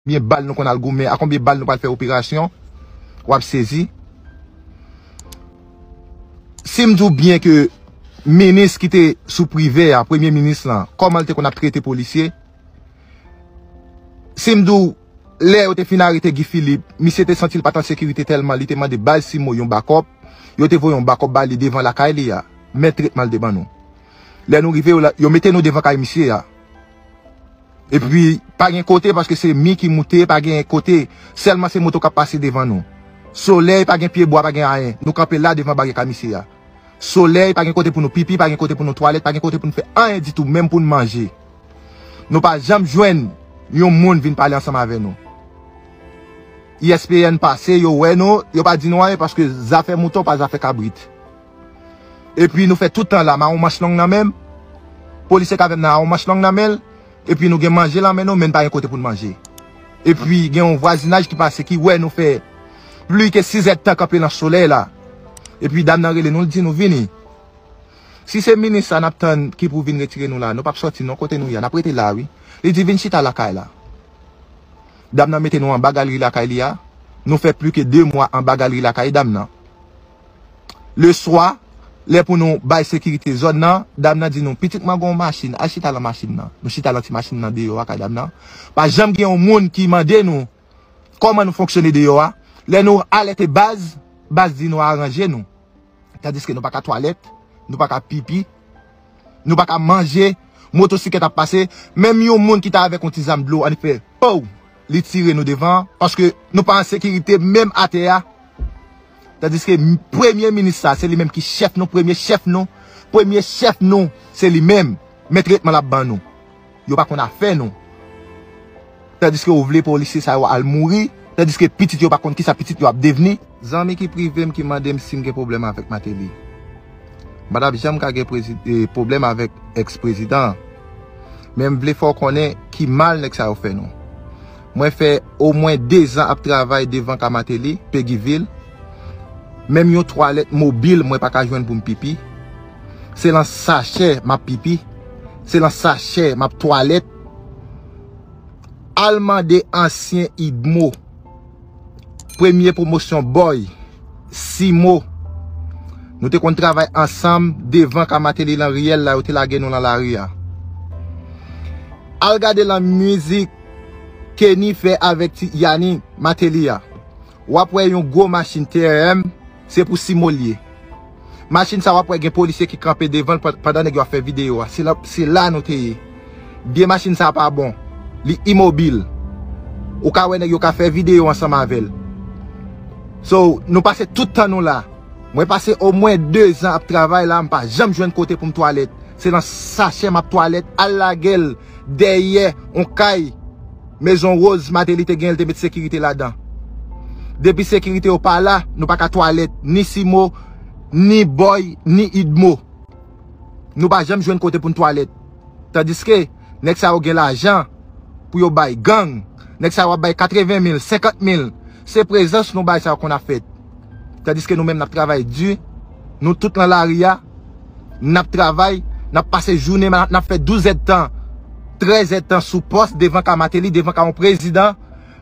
Konbyen bal nou konn al goumen, a konbyen bal nou pral fè operasyon, wap sezi. Sim di w byen ke minis ki te sou prive a, premye minis lan, koman l te konn ap trete polisye, sim di w lè yo te fin arete Guy Philippe, misye te santi l pat an sekirite tèlman li te mande baz simo yon bakòp, yo te voye yon bakòp ba li devan lakay li a, men tretman l te ban nou. Lè nou rive yo mete nou devan kay misye a. Epi pa gen kote paske se mi ki moute pa gen kote Selman se moto kap pase devan nou Soley pa gen pye bwa pa gen ayen nou kanpe la devan baryè kamise a Soley pa gen kote pou nou pipi pa gen kote pou nou twalèt pa gen kote pou nou fè anyen ditou menm pou nou manje nou pa janm jwenn yon moun vin pale ansanm avè nou ISPN pase yo wè nou yo pa di nou anyen paske zafè mouton pa zafè kabrit. Epi nou fè tout tan la mawon manch long nan menm Polisye k avèm nan awon manch long nan men l Epi nou gen manje lan men nou men n pa gen kote pou n manje Epi gen yon vwazinaj ki pase ki wè nou fè pli ke sizèdtan kanpe lan solèy la Epi dam nan rele nou l di nou vini Si se minis sa n ap tann ki pou vin retire nou la nou p ap sòti non kote nou ye a n ap rete la wi Li di vin chita lakay la Dam nan mete nou anba galri lakay li a Nou fè pli ke de mwa anba galri lakay dam nan. Le swa, lè pou nou bay sekirite zòn nan, dam nan di nou, pitit mwen gen yon machin, al chita lan machin nan. Nou chita lan ti machin nan deyò a kay dam nan. Pa janm gen yon moun ki mande nou kòman nou fonksyone deyò a. Lè nou alète baz, baz di nou aranje nou. Tandiske nou pa ka twalèt, nou pa ka pipi, nou pa ka manje, motosiklèt ap pase, menm yon moun ki ta avèk yon ti zam dlo annik fè pouw! li tire nou devan paske nou pa an sekirite menm atè a tandiske premye minis sa se li menm ki chèf nou premye chèf nou premye chèf nou se li menm men tretman l ap ban nou yo pa konn afè nou tandiske ou vle polisye sa yo al mouri tandiske pitit yo pa konn kisa pitit yo ap devni. Zanmi ki prive m ki mande m si m gen pwoblèm avèk Mateli. M pa t ap janm ka gen pwoblèm avèk ex prezidan an. Men m vle fè w konnen ki mal nèg sa yo fè nou. Mwen fè omwen dezan ap travay devan ka Mateli, Peguivil. Menm yon twalèt mobil mwen pa ka jwenn pou m pipi. Se lan sachè m ap pipi. Se lan sachè m ap twalèt. Al mande ansyen Idmo. Premye pwomosyon Boy, Simo, Nou te konn travay ansanm devan ka Mateli lan riyèl la yo te lage nou lan lari a. Al gade lan mizik Kenny fè avèk ti Yani, Mateli a. Wap wè yon gwo machin TEM, se pou Simo l ye. Machin sa wap wè gen polisye ki kanpe devanl pandan nèg yo ap fè video a se la nou te ye biyè machin sa pa bon li imobil ou ka wè nèg yo ka fè video ansanm avèl so nou pase tout tan nou la mwen pase o mwen 2 zan ap travay la mpa janm jwenn kote poum twalèt se nan sachè map twalèt al lagel dèyè on kay. Maison Rose Martelly te genyen li te met sekirite ladan. Depi sekirite yo pa la, nou pa ka twalèt ni Simo, ni Boy, ni Idmo. Nou pa janm jwenn kote pou n twalèt. Tandiske, nèg sa yo gen lajan pou yo bay gang. Nèg sa yo ap bay 80 mil, 50 mil. Se prezans nou bay sa yo konn ap fèt. Tandiske nou menm n ap travay di. Nou tout nan lari a, n ap travay, n ap pase jounen, n ap fè douzèdtan, trèzèdtan sou pòs devan ka Mateli, devan ka yon prezidan,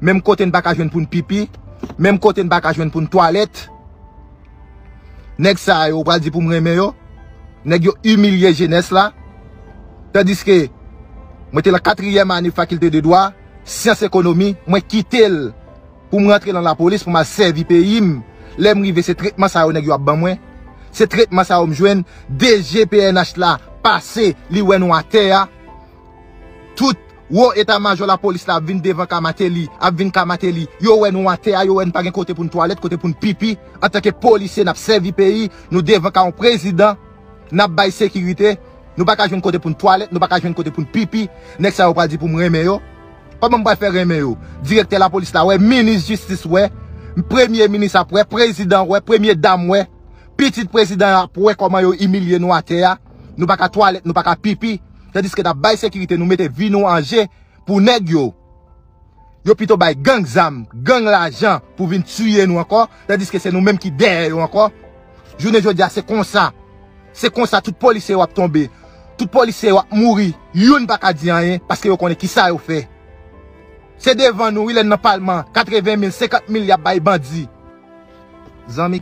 menm kote n pa ka jwenn pou n pipi, menm kote n pa ka jwenn pou n twalèt. Nèg sa yo, ou pral di pou m renmen yo? Nèg yo imilye jenès la. Tandiske, mwen te lan katriyèm ane fakilte de dwa, syans ekonomi, mwen kite l. Pou m rantre lan lapolis pou m al sèvi peyi m, lè m rive se tretman sa yo nèg yo ap ban mwen, se tretman sa yo m jwenn, DG pnh la pase li wè nou atè a, tout wo eta majò lapolis la ap vin devan ka Mateli, ap vin ka Mateli, yo wè nou atè a, yo wè n pa gen kote pou n twalèt, kote pou n pipi, antanke polisye n ap sèvi peyi, nou devan ka yon prezidan, n ap bay sekirite, nou pa ka jwenn kote pou n twalèt, nou pa ka jwenn kote pou n pipi, nèg sa yo pral di pou m renmen yo. Kòman m pral fè renmen yo? Direktè lapolis la wè, minis jistis wè, premye minis ap wè, prezidan ap wè, premye dam wè, pitit prezidan yo ap wè kòman yo imilye nou atè a, nou pa ka twalèt, nou pa ka pipi, tandiske n ap bay sekirite nou, mete vi nou an je pou nèg yo. Yo pito bay gang zam, gang lajan pou vin tiye nou ankò, tandiske se nou menm ki dèyè yo ankò. Jounen jodi a se konsa. Se konsa tout polisye yo ap tonbe, tout polisye yo ap mouri, youn pa ka di anyen paske yo konnen kisa yo fè. Se devan nou wi lè n nan palman, 80 mil, 50 mil y ap bay bandi. Zanmi.